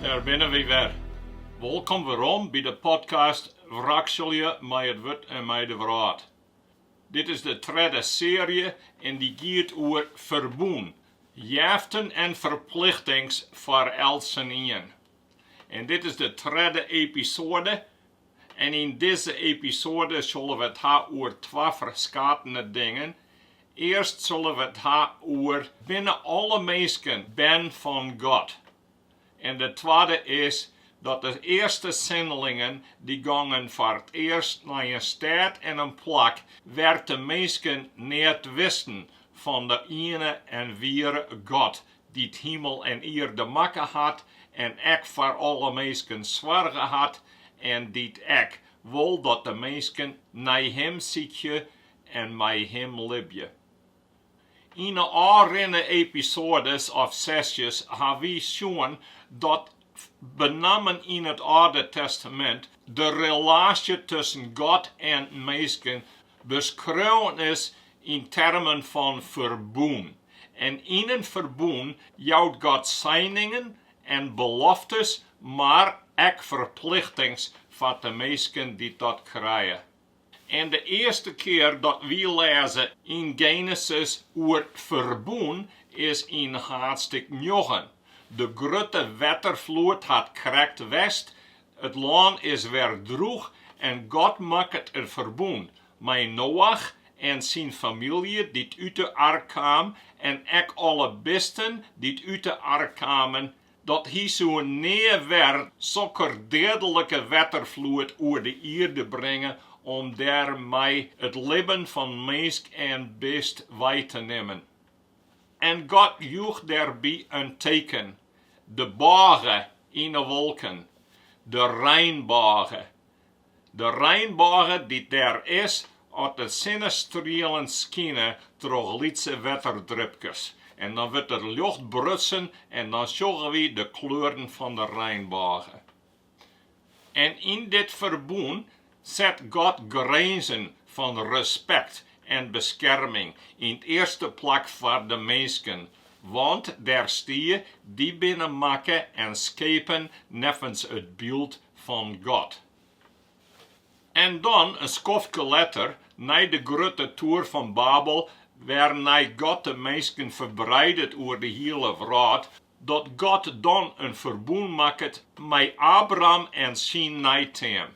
Dêr binne wy wer. Wolkom werom by de podcast Wrakselje mei it wurd en mei de wrâld. Dit is de tredde searje en dy giet oer ferbûn, jeften en ferplichtings foar eltsenien. En dit is de tredde episoade en yn dizze episoade sille we it ha oer twa ferskatene dingen. Earst sille we it ha oer binne alle minsken bern fan God? En de twadde is dat de earste sinlingen dy gongen foar it earst nei in stêd en in plak wêr't de minsken neat wisten fan de iene en wiere God dy't himel en ierde makke hat en ek foar alle minsken soarge hat en dy't ek wol dat de minsken nei Him sykje en mei Him libje. Yn 'e ôfrinne episoades of sesjes ha wy sjoen dat benammen yn it Alde Testamint, de relaasje tusken God en minsken beskreaun is yn termen fan ferbûn. En yn in ferbûn jout God seiningen en beloftes, mar ek ferplichtings foar de minsken dy't dat krije. En de earste kear dat wy lêze yn Genesis oer ferbûn is yn haadstik njoggen. De grutte wetterfloed hat krekt west, it lân is wer drûch en God makket in ferbûn, mei Noach en syn famylje dy't út de ark kaam en ek alle bisten dy't út de ark kamen, Dat hy soe nea wer sokke deadlike wetterfloed oer de ierde bringe om dêr mei it libben fan minsk en bist wei te nimmen. En God joech dêrby in teken, de bôge yn 'e wolken, de reinbôge, De reinbôge dy't dêr is as de sinnestrielen skine troch lytse wetterdrupkes. En dan wurdt it ljocht brutsen en dan sjogge wy de kleuren fan de reinbôge. En yn dit ferbûn set God grinzen fan respekt en beskerming yn it earste plak foar de minsken, want dêr stie, Dy binne makke en skepen neffens it byld fan God. En dan, in skoftke letter, nei de grutte toer fan Babel, wêrnei God de minsken ferbreidet oer de hiele wrâld, dat God dan in ferbûn makket mei Abraham en syn neiteam.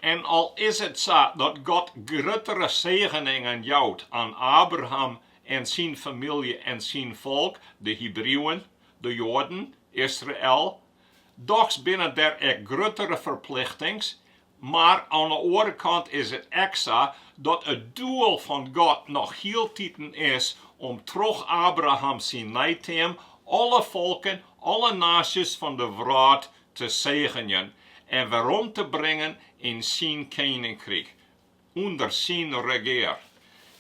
En al is it sa dat God gruttere segeningen jout oan Abraham en syn famylje en syn folk, de Hebrieuwen, de Joaden, Israel, Dochs binne der ek gruttere ferplichtings, mar oan 'e oare kant is it ek sa dat it doel fan God noch hieltiten is om troch Abraham syn neiteam alle folken, alle naasjes fan 'e wrâld te segenjen en werom te bringen yn syn keninkryk. ûnder syn regear.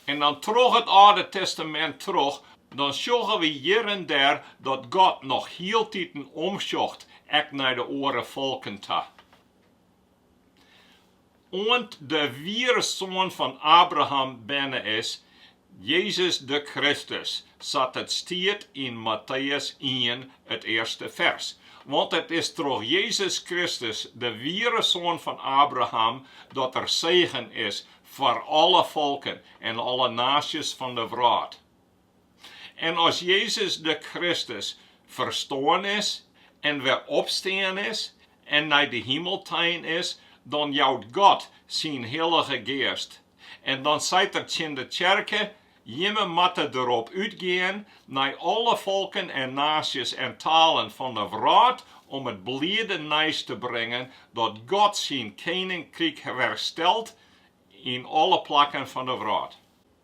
En dan troch it Alde Testamint troch, dan sjogge we hjir en dêr dat God noch hieltiten omsjocht ek nei de oare folken ta. Oant de wiere Soan fan Abraham berne is, Jezus de Kristus, sa't it stiet yn Matteüs ien, it earste fers. Want it is troch Jezus Kristus, de wiere soan fan Abraham, dat der segen is foar alle folken en alle naasjes fan de wrâld. En as Jezus de Kristus ferstoarn is en wer opstean is, en nei de himel tein is, dan jout God syn Hillige Geast en dan seit Er tsjin de tsjerke, Jimme moatte derop útgean nei alle folken en naasjes en talen fan de wrâld om it bliede nijs te bringen dat God syn keninkryk werstelt yn alle plakken fan de wrâld.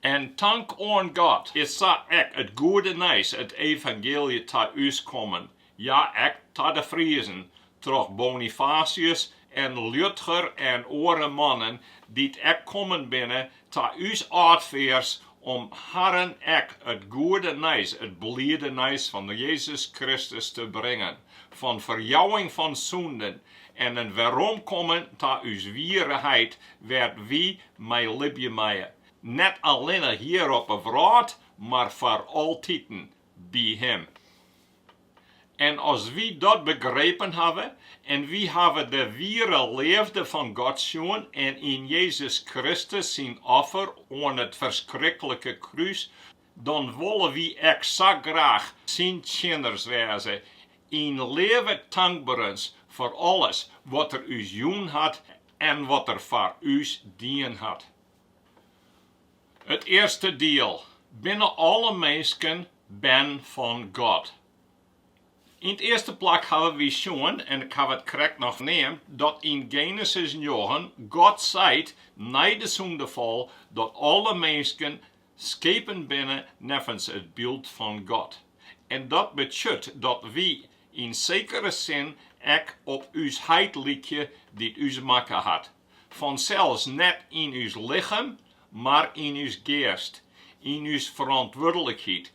En tank oan God is sa ek it goede nijs, it evangeelje, ta ús kommen, ja, ek ta de Friezen, troch Bonifatius en Liudger en oare mannen, dy't ek kommen binne ta ús âldfears, om harren ek it goede nijs, it bliede nijs fan Jezus Kristus te bringen, fan ferjouwing fan sûnden en in weromkommen ta ús wiere heit, wêr't wy mei libje meie, net allinne hjir op 'e wrâld, mar foar altiten by Him. En as wy dat begrepen hawwe en wy hawwe de wiere leafde fan God sjoen en yn Jezus Kristus syn offer oan it ferskriklikke krús, dan wolle wy ek sa graach syn tsjinners wêze yn leave tankberens foar alles wat er ús jûn hat en wat er foar ús dien hat. It earste diel, Binne alle minsken bern fan God? Yn 't earste plak hawwe wy sjoen, en ik haw it krekt noch neamd, dat yn Genesis njoggen God seit nei de sûndefal dat alle minsken Skepen binne neffens it byld fan God, en dat betsjut dat wy yn sekere sin ek op ús heit lykje dy't ús makke hat, fansels net yn ús lichem, mar yn ús geast, yn ús ferantwurdlikheid,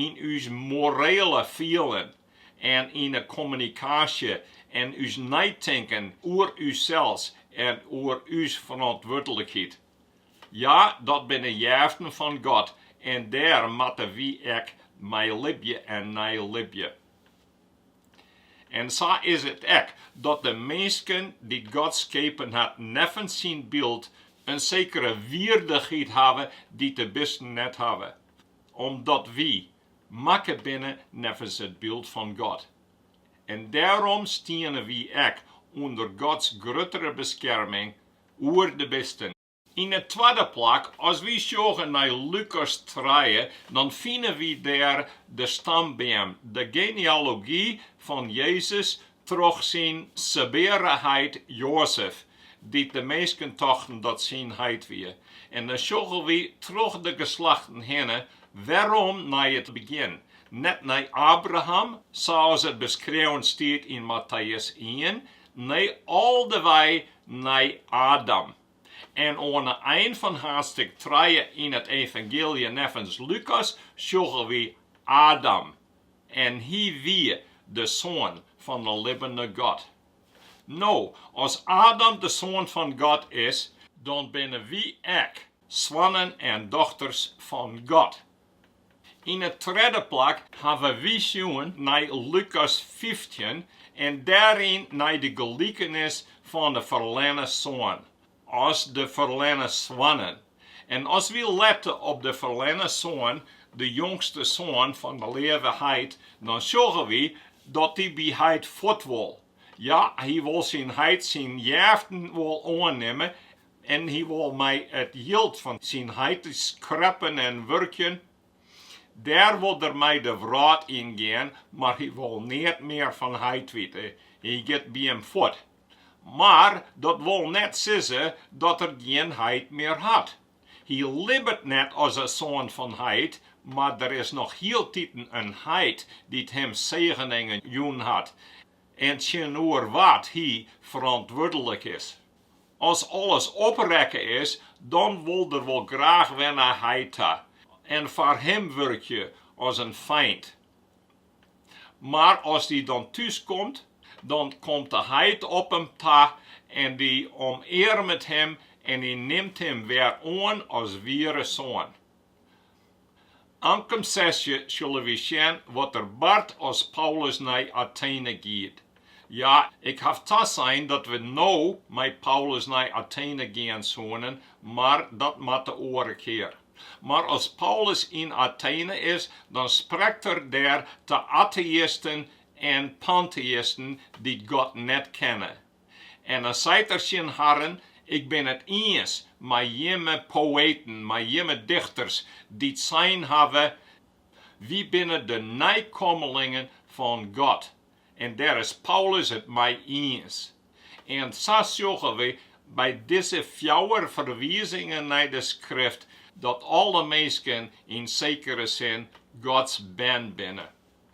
yn ús moreale fielen en yn 'e kommunikaasje en ús neitinken oer ússels en oer ús ferantwurdlikheid. Ja, dat binne jeften fan God en dêr moatte wy ek mei libje en nei libje. En sa is it ek dat de minsken dy't God skepen hat neffens syn byld in sekere wierdichheid hawwe dy't de bisten net hawwe, omdat wy makke binne neffens it byld fan God. En dêrom stiene wy ek ûnder Gods gruttere beskerming oer de bisten. Yn de twadde plak, as wy sjogge nei Lukas trije, dan fine wy dêr de stambeam, de genealogy fan Jezus troch syn sebeare heit Joazef, dy't de minsken tochten dat syn heit wie. En dan sjogge wy troch de geslachten hinne werom nei it begjin, net nei Abraham, sa as it beskreaun stiet yn Matteus ien, Nee, al de wei nei Adam. En oan 'e ein fan haadstik trije yn it Evangeelje neffens Lukas sjogge wy Adam, en hy wie de soan fan 'e libbene God. No, as Adam de soan fan God is, dan binne wy ek soannen en dochters fan God. Yn 'e tredde plak hawwe wy sjoen nei Lukas fyftjin en dêryn nei de gelikenis fan 'e ferlerne soan, as de ferlerne soannen. En as wy lette op de ferlerne soan, de jongste soan fan de leave heit, dan sjogge wy dat hy by heit fuort wol. Ja, hy wol syn heit syn jeften wol oannimme En hy wol mei it jild fan syn heite skreppen en wurkjen. Dêr wol er mei de wrâld yn gean, mar hy wol neat mear fan heit witte. Hy giet by him fuort. Mar dat wol net sizze dat er gjin heit mear hat. Hy libbet net as 'e soan fan heit, mar der is noch hieltiten in heit dy't him segeningen jûn hat en tsjinoer wa't hy ferantwurdlik is. As alles oprekke is, dan wol er wol graach wer nei heit ta en foar him wurkje as in feint. Mar as dy dan thús komt, dan komt de heit op him ta en dy omearmet him en dy nimt him wer oan as wiere soan. Ankom sesje sille wy sjen wat der bart as Paulus nei Atene giet. Ja, ik haw tasein dat we no mei Paulus nei Atene gean soene, mar dat moat de oare kear. Mar as Paulus yn Atene is, dan sprekt er dêr ta ateïsten en panteïsten dy't God net kenne. En dan seit er tsjin harren, Ik bin it iens mei jimme poëten, mei jimme dichters, dy't sein hawwe, Wy binne de neikommelingen fan God. En dêr is Paulus it mei iens. En sa sjogge wy by dizze fjouwer ferwizingen nei de Skrift dat alle minsken yn sekere sin Gods bern binne.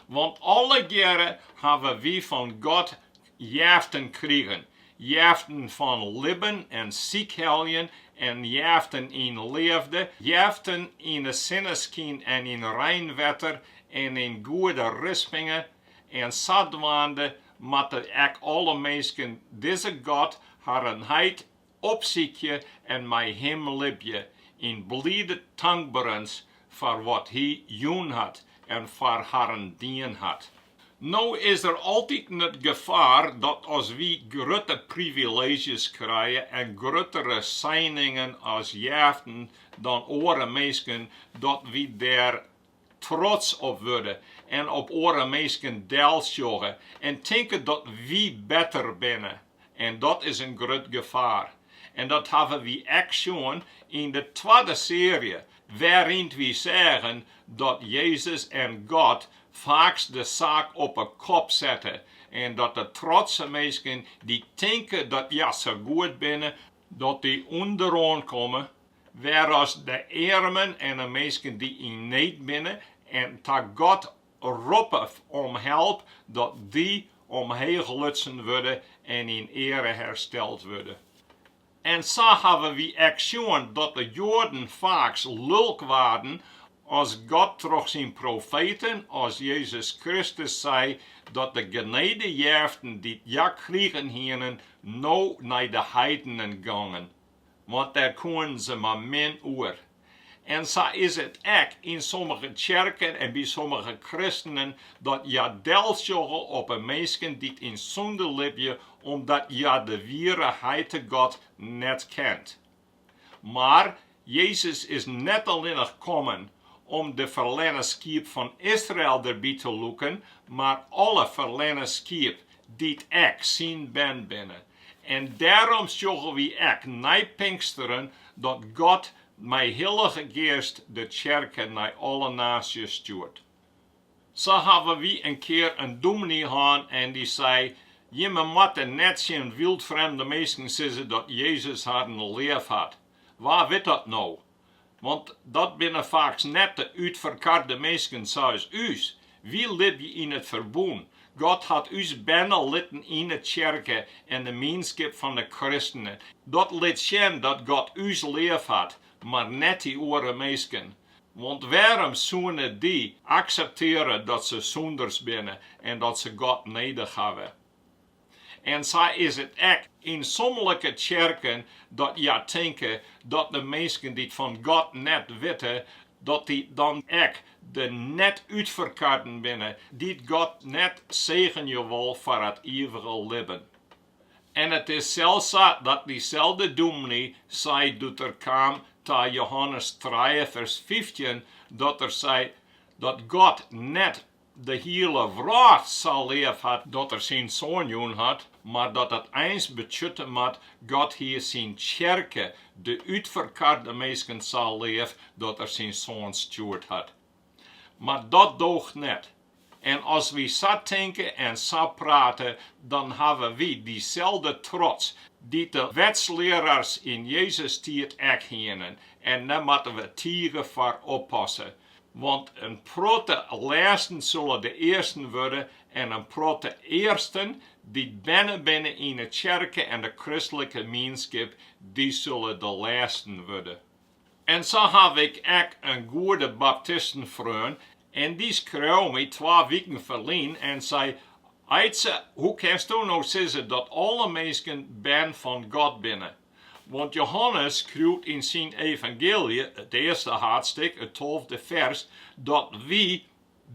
Want allegearre hawwe wy fan God jeften krigen, jeften fan libben en sykheljen en jeften yn leafde, jeften yn 'e sinneskyn en yn reinwetter en yn goede rispingen, en sadwaande moatte ek alle minsken dizze God harren heit opsykje en mei Him libje yn blide tankberens foar wat Hy jûn hat en foar harren dien hat. No is der altiten it gefaar dat as wy grutte privileezjes krije en gruttere seiningen as jeften dan oare minsken, dat wy dêr trots op wurde en op oare minsken delsjogge en tinke dat wy better binne. En dat is in grut gefaar. En dat hawwe wy ek sjoen yn de twadde searje, wêryn't wy seagen dat Jezus en God faaks de saak op 'e kop sette en dat de trotse minsken dy't tinke dat hja sa goed binne, dat dy ûnderoan komme Wêr'as de earmen en de minsken dy't yn need binne en ta God roppe om help, dat dy omheech lutsen wurde en yn eare hersteld wurde. En sa hawwe wy ek sjoen dat de Joaden faaks lulk waarden as God troch syn profeten as Jezus Kristus sei dat de genedejeften dy't hja krigen hienen no nei de heidenen gongen. want dêr koenen se mar min oer. En sa is it ek yn sommige tsjerken en by sommige kristenen dat hja delsjogge op 'e minsken dy't yn sûnde libje omdat hja de wiere Heite God net kent. Mar Jezus is net allinnich kommen om de ferlerne skiep fan Israel derby te lûken, mar alle ferlerne skiep dy't ek syn bern binne. En dêrom sjogge wy ek nei Pinksteren dat God mei Hillige Geast de tsjerke nei alle naasjes stjoert. Sa hawwe wy in kear in dûmny hân en dy sei, jimme moatte net tsjin wyldfremde minsken sizze dat Jezus harren leaf hat. Wa wit dat no? Want dat binne faaks net de útferkarde minsken sa as ús. Wy libje yn it ferbûn. God hat ús berne litten yn 'e tsjerke en de mienskip fan de kristenen. Dat lit sjen dat God ús leaf hat, mar net dy oare minsken. Want wêrom soene dy akseptearje dat se sûnders binne en dat se God nedich hawwe? En sa is it ek yn sommenlike tsjerken, dat hja tinke dat de minsken dy't fan God net witte, dat dy dan ek de net-útferkarden binne, dy't God net segenje wol foar it iivige libben. En it is sels sa dat dyselde dûmny sei doe't er kaam ta Johannes trije, fers fyftjin, dat er sei dat God net de hiele wrâld sa leaf hat dat Er syn Soan jûn hat, mar dat dat eins betsjutte moat God, Hy syn tsjerke, de útferkarde minsken sa leaf dat Er syn Soan stjoerd hat. Mar dat doocht net. En as wy sa tinke en sa prate, dan hawwe wy dyselde trots dy't de wetslearaars yn Jezus' tiid ek hienen, en dêr moatte we tige foar oppasse. Want in protte lêsten solle de earsten wurde, en in protte earsten, dy't berne binne yn 'e tsjerke en de kristlike mienskip, dy solle de lêsten wurde. En sa haw ik ek in goede baptistenfreon, en dy skreau my twa wiken ferlyn en sei, Aidse, hoe kinsto no sizze dat alle minsken bern fan God binne? Want Johannes skriuwt yn syn evangeelje, it earste hadstik, it tolfde fers, dat wy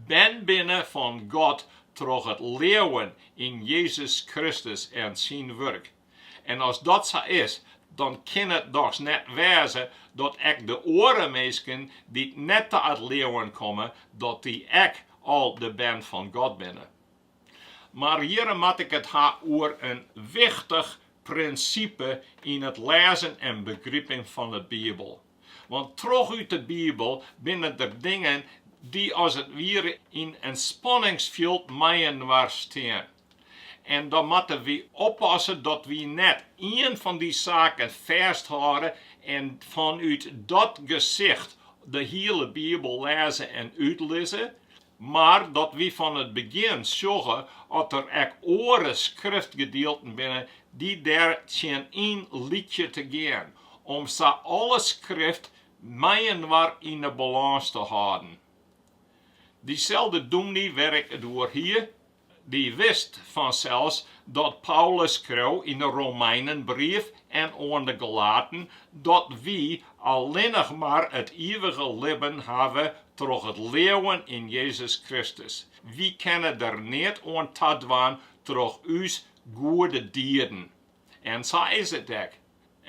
bern binne fan God troch it leauwen yn Jezus Kristus en syn wurk. En as dat sa is, dan kin it dochs net wêze dat ek de oare minsken dy't net ta it leauwen komme, dat dy ek al de bern fan God binne. Mar hjirre moat ik it ha oer in wichtich prinsipe yn it lêzen en begripen fan de Bibel. Want troch út de Bibel binne der dingen dy't as it wiere yn in spanningsfjild mei-inoar stean. En dan moatte wy oppasse dat wy net ien fan dy saken fêsthâlde en fanút dat gesicht de hiele Bibel lêze en útlizze, Mar dat wy fan it begjin sjogge oft der ek oare skriftgedielten binne dy't dêr tsjin yn lykje te gean, om sa alle skrift mei-inoar yn 'e balâns te hâlden. Dyselde dûmny wêr't ik it oer hie, Dy wist fansels dat Paulus skreau yn de Romeinenbrief en oan de Galaten dat wy allinnich mar it ivige libben hawwe troch it leauwen yn Jezus Kristus. Wy kinne der neat oan tadwaan troch ús goede dieden. En sa is it ek.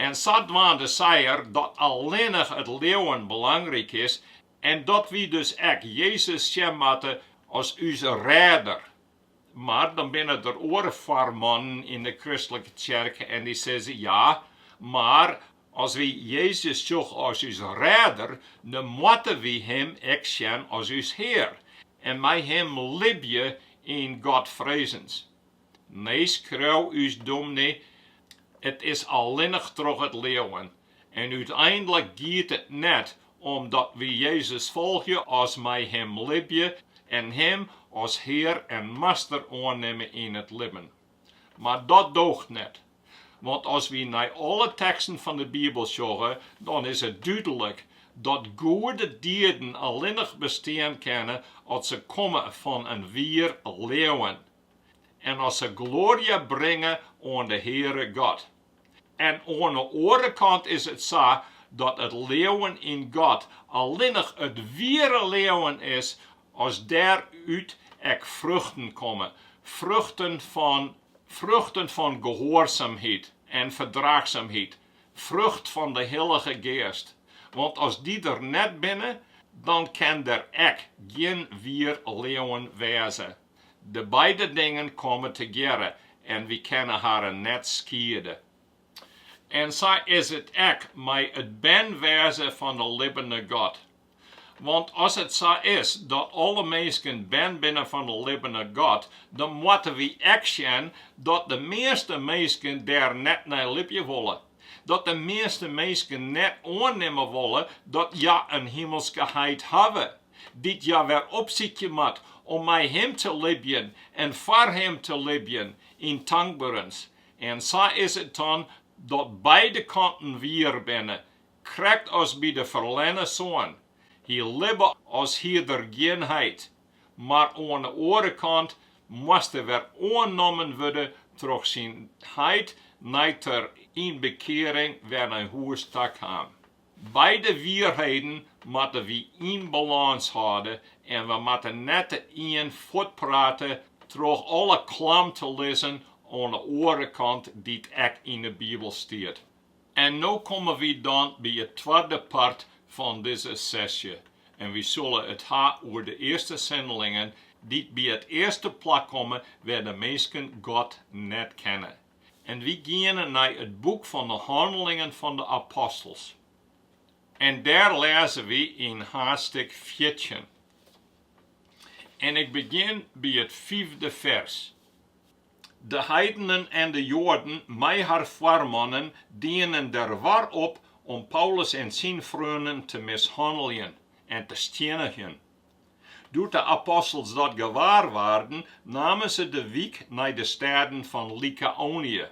En sadwaande sei er dat allinnich it leauwen belangryk is En dat wy dus ek Jezus sjen moatte as ús Rêder. Mar dan binne der oare foarmannen yn de kristlike tsjerke en dy sizze, ja, mar as wy Jezus sjogge as ús Rêder, dan moatte wy Him ek sjen as ús Hear en mei Him libje yn Godfrezens. Nee, skreau ús dûmny, it is allinnich troch it leauwen. En úteindlik giet it net om dat wy Jezus folgje as mei Him libje en Him as Hear en Master oannimme yn it libben. Mar dat doocht net. Want as wy nei alle teksten fan de Bibel sjogge, dan is it dúdlik dat goede dieden allinnich bestean kinne as se komme fan in wier leauwen. en as se gloarje bringe oan de Heare God. En oan 'e oare kant is it sa dat it leauwen yn God allinnich it wiere leauwen is as dêr út ek fruchten komme, fruchten fan gehoarsamheid en ferdraachsamheid, frucht fan de Hillige Geast, want as dy der net binne, dan ken der ek gjin wier leauwen wêze. De beide dingen komme tegearre en wy kinne harren net skiede. En sa is it ek mei it bern wêze fan 'e libbene God. Want as it sa is dat alle minsken bern binne fan 'e libbene God, dan moatte wy ek sjen dat de measte minsken dêr net nei libje wolle. dat de measte minsken net oannimme wolle dat hja in himelske Heit hawwe, dy't hja wer opsykje moat om mei Him te libjen en foar Him te libjen yn tankberens. En sa is it dan dat beide kanten wier binne, krekt as by de ferlerne soan, Hy libbe as hie er gjin heit. Mar oan de oare kant moast er wer oannommen wurde troch syn heit nei't er yn bekearing wer nei hûs ta kaam. Beide wierheden moatte wy yn balâns hâlde en we moatte net de ien fuortprate troch alle klam te lizzen oan de oare kant dy't ek yn de Bibel stiet. En no komme wy dan by it twadde part fan dizze sesje en wy sille it ha oer de earste sendelingen dy't by it earste plak komme wêr't de minsken God net kenne. En wy geane nei it boek fan de Hannelingen fan de Apostels. En dêr lêze wy yn haadstik fjirtjin. En ik begjin by it fiifde fers. De heidenen en de Joaden mei har foarmannen dienen der war op om Paulus en syn freonen te mishanneljen en te stjinnigjen. Doe't de apostels dat gewaar waarden, namen se de wyk nei de stêden fan Lykaonje,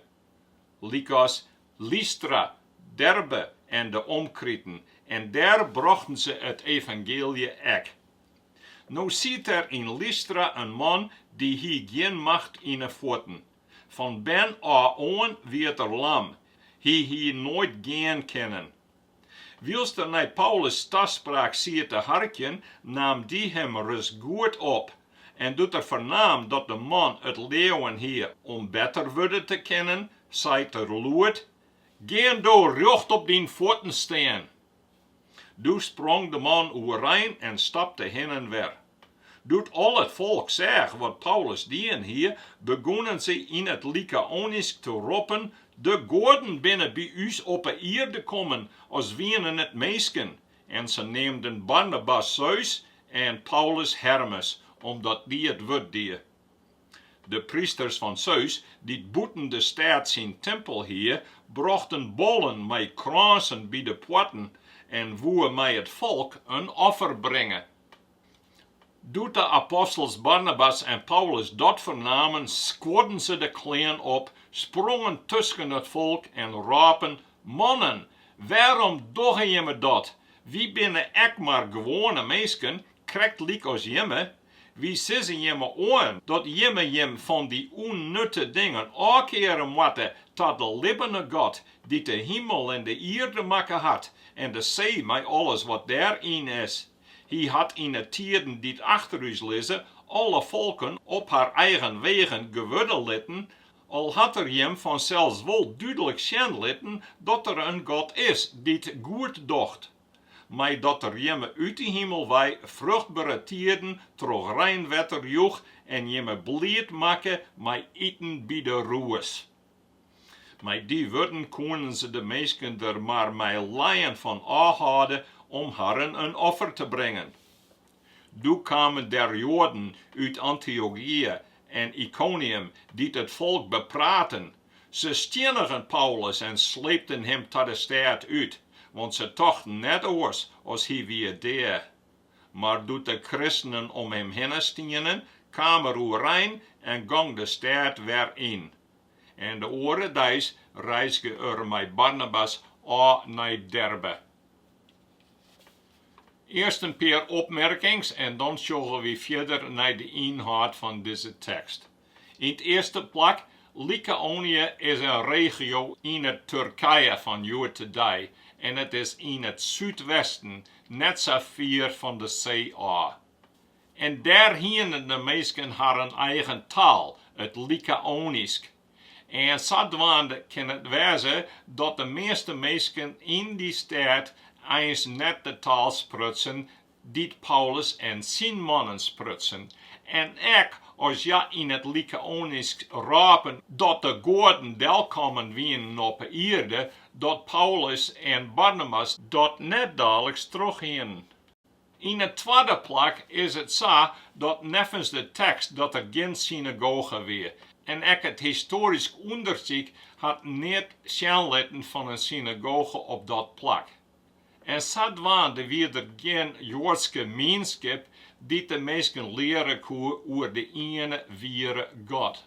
lykas Lystra, Derbe en de omkriten, en dêr brochten se it evangeelje ek. No siet der yn Lystra in man dy't hie gjin macht yn 'e fuotten. Fan bern ôf oan wie't er lam, hy hie noait gean kinnen. Wylst er nei Paulus' taspraak siet te harkjen, naam dy him ris goed op, en doe't er fernaam dat de man it leauwen hie om better wurde te kinnen, seit er lûd, Gean do rjocht op dyn fuotten stean! Doe sprong de man oerein en stapte hinne en wer. Doe't al it folk seach wat Paulus dien hie, begûnen se yn it Lykaonysk te roppen, De goaden binne by ús op 'e ierde kommen, as wienen it minsken. En se neamden Barnabas Seus en Paulus Hermes, omdat dy it wurd die. De prysters fan Seus, dy't bûten de stêd syn timpel hie, brochten bollen mei krânsen by de poarten en woe mei it folk in offer bringe. Doe't de apostels Barnabas en Paulus dat fernamen, skuorden se de klean op, sprongen tusken it folk en rôpen, Mannen, wêrom dogge jimme dat? Wy binne ek mar gewoane minsken, krekt lykas jimme. Wy sizze jimme oan dat jimme jim fan dy ûnnutte dingen ôfkeare moatte ta de libbene God, dy't de himel en de ierde makke hat, en de see mei alles wat dêr yn is. Hy hat yn 'e tieden dy't achter ús lizze alle folken op har eigen wegen gewurde litten, al hat er jim fansels wol dúdlik sjen litten dat der in God is dy't goed docht. mei dat der jimme út 'e himel wei fruchtbere tiden troch reinwetter joech en jimme bliid makke mei iten by de rûs. Mei dy wurden koenen se de minsken der mar mei leien fan ôfhâlde om harren in offer te bringen. Doe kamen der Joaden út Antiochië en Ykonium, dy't it folk bepraten. Se stiennigen Paulus en sleepten him ta de stêd út, want se tochten net oars as hy wie dea. Mar doe't de kristenen om him hinne stienen, kaam er oerein en gong de stêd wer yn. En de oare deis reizge er mei Barnabas ôf nei Derbe. Earst in pear opmerkings en dan sjogge wy fierder nei de ynhâld fan dizze tekst. Yn it earste plak, Lykaonië is in regio yn it Turkije fan hjoed-de-dei en it is yn it súdwesten net sa fier fan de see ôf. En dêr hiene de minsken harren eigen taal, it Lykaonysk, en sadwaande kin it wêze dat de measte minsken yn dy stêd eins net de taal sprutsen dy't Paulus en syn mannen sprutsen, en ek as hja yn it Lykaonysk rôpen dat de goaden delkommen wienen op 'e ierde, dat Paulus en Barnabas dat net daliks trochhienen. Yn 'e twadde plak is it sa dat neffens de tekst dat der gjin synagoge wie, en ek it histoarysk ûndersyk hat neat sjen litten fan in synagoge op dat plak. En sadwaande wie der gjin Joadske mienskip dy't de minsken leare koe oer de iene wiere God.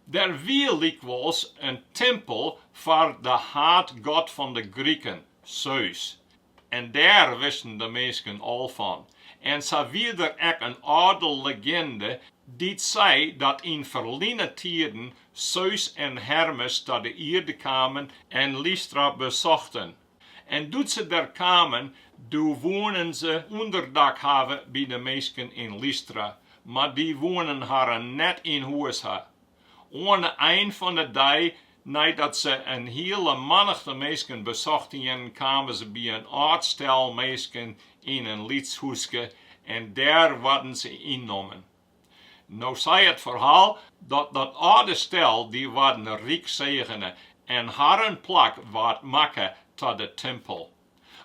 Der wie lykwols in timpel foar de haadgod fan de Griken, Seus, En dêr wisten de minsken al fan. En sa wie der ek in âlde leginde dy't sei dat yn ferline tiden Seus en Hermes ta de ierde kamen en Lystra besochten. En doe't se der kamen, doe woenen se ûnderdak hawwe by de minsken yn Lystra, mar dy woenen harren net yn hûs ha. Oan 'e ein fan 'e dei, neidat se in hiele mannichte minsken besocht hienen, kamen se by in âld stel minsken yn in lyts hûske en dêr waarden se ynnommen. No sei it ferhaal dat dat âlde stel dy waarden ryk segene, en harren plak waard makke ta de timpel.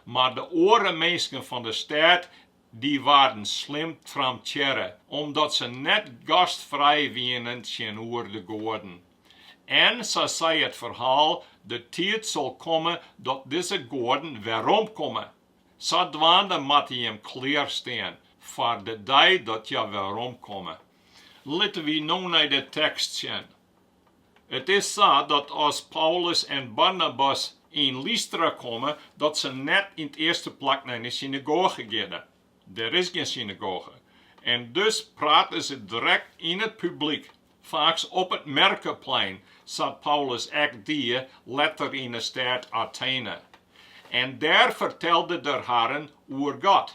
Mar de oare minsken fan de stêd Dy waarden slim trampearre omdat se net gastfrij wienen tsjinoer de goaden. En, sa sei it ferhaal, de tiid sil komme dat dizze goaden weromkomme. Sadwaande moatte jim klearstean foar de dei dat hja weromkomme. Litte wy no nei de tekst sjen. It is sa dat as Paulus en Barnabas yn Lystra komme, dat se net yn 't earste plak nei de synagoge geane. Der is gjin synagoge. En dus prate se direkt yn it publyk, faaks op it merkeplein, sa't Paulus ek die letter yn 'e stêd Atene. En dêr fertelde er harren oer God,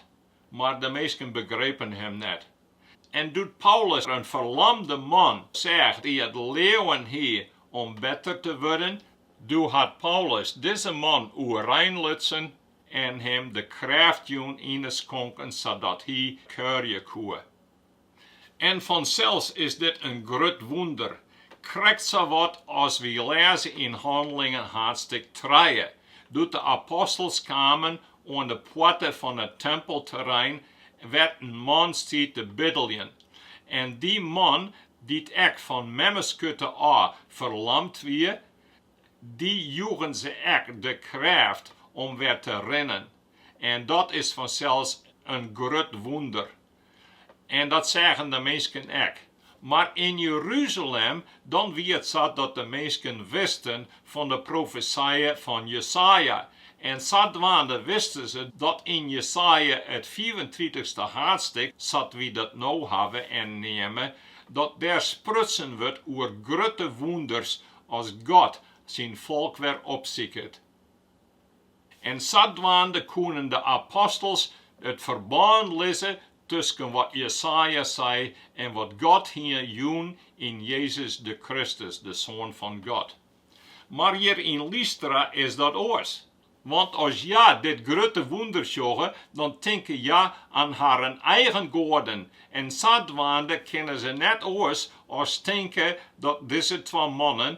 mar de minsken begrepen him net. En doe't Paulus in ferlamde man seach dy't it leauwen hie om better te wurden, doe hat Paulus dizze man oerein lutsen en him de krêft jûn yn 'e skonken sadat hy kuierje koe. En fansels is dit in grut wûnder, krekt sawat as wy lêze yn Hannelingen haadstik trije, doe't de apostels kamen oan de poarte fan it tempelterrein wêr't in man stie te biddeljen. En dy man, dy't ek fan memmeskurte ôf ferlamd wie, dy joegen se ek de krêft om wer te rinnen. En dat is fansels in grut wûnder. En dat seagen de minsken ek. Mar yn Jeruzalem, dan wie it sa't de minsken wisten fan de profesije fan Jesaja. En sadwaande wisten se dat yn Jesaja it fiifentritichste haadstik, sa't wy dat no hawwe en neame, dat dêr sprutsen wurdt oer grutte wûnders as God syn folk wer opsiket. En sadwaande koenen de apostels it ferbân lizze tusken wat Jesaja sei en wat God hie jûn yn Jezus de Kristus, de Soan fan God. Mar hjir yn Lystra is dat oars. Want as hja dit grutte wûnder sjogge, dan tinke hja oan harren eigen goaden, en sadwaande kinne se net oars as tinke dat dizze twa mannen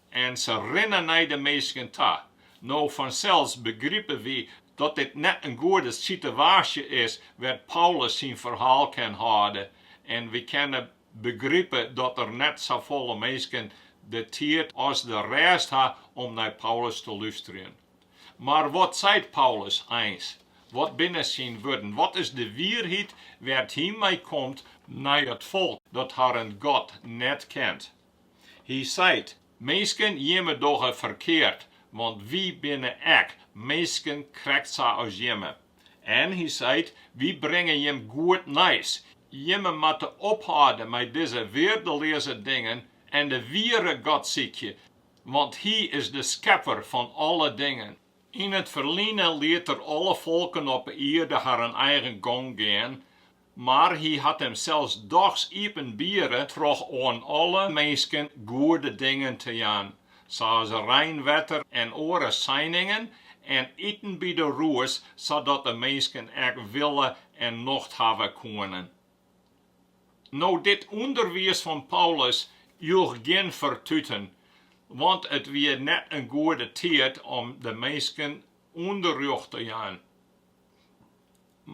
En se rinne nei de minsken ta. No fansels begripe wy dat dit net in goede sitewaasje is wêr't Paulus syn ferhaal kin hâlde, en wy kinne begripe dat der net safolle minsken de tiid as de rêst ha om nei Paulus te lústerjen. Mar wat seit Paulus eins? Wat binne syn wurden? Wat is de wierheid wêr't hy mei komt nei it folk dat harren God net kent? Hy seit, Minsken jimme dogge ferkeard, want wy binne ek minsken krekt sa as jimme. En hy seit, Wy bringe jim goed nijs, jimme moatte ophâlde mei dizze weardeleaze dingen en de wiere God sykje, want Hy is de Skepper fan alle dingen. Yn it ferline liet Er alle folken op 'e ierde harren eigen gong gean, Mar hy hat him sels dochs iepenbiere troch oan alle minsken goede dingen te jaan, sa as reinwetter en oare seiningen, en iten by de roes, sadat de minsken ek wille en nocht hawwe koene. No, dit ûnderwiis fan Paulus joech gjin fertuten, want it wie net in goede tiid om de minsken ûnderrjocht te jaan.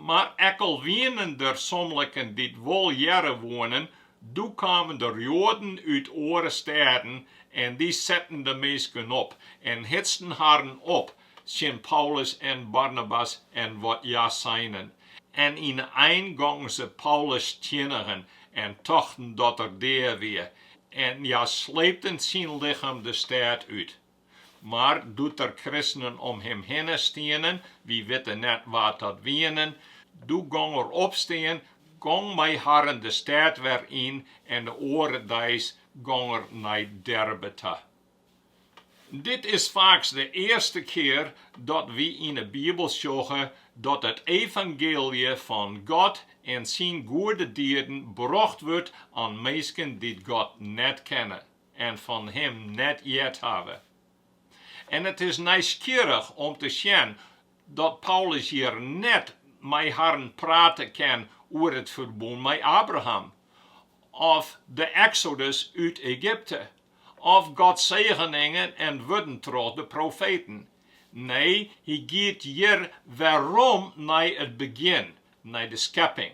Mar ek al wienen der somliken dy't wol hearre woenen, doe kamen der Joaden út oare stêden en dy setten de minsken op en hitsten harren op tsjin Paulus en Barnabas en wat hja seinen. En yn 'e ein gongen se Paulus stiennigjen en tochten dat er dea wie, en hja sleepten syn lichem de stêd út. Mar doe't der kristenen om him hinne stienen, wy witte net wa't dat wienen, doe gong er opstean, gong mei harren de stêd wer yn en de oare deis gong er nei Derbe ta. Dit is faaks de earste kear dat wy yn 'e Bibel sjogge dat it evangeelje fan God en syn goede dieden brocht wurdt oan minsken dy't God net kenne. en fan him net heard hawwe. En it is nijsgjirrich om te sjen dat Paulus hjir net mei harren prate kin oer it ferbûn mei Abraham, of de eksodus út Egypte, of Gods segeningen en wurden troch de profeten. Nee, hy giet hjir werom nei it begjin, nei de skepping.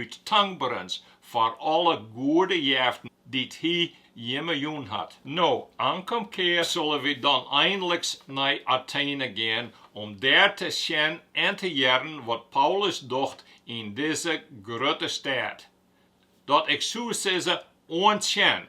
út tankberens foar alle goede jeften dy't hy jimme jûn hat. No, ankom kear sille wy dan einliks nei Atene gean om dêr te sjen en te hearren wat Paulus docht yn dizze grutte stêd, dat ik soe sizze oan tsjen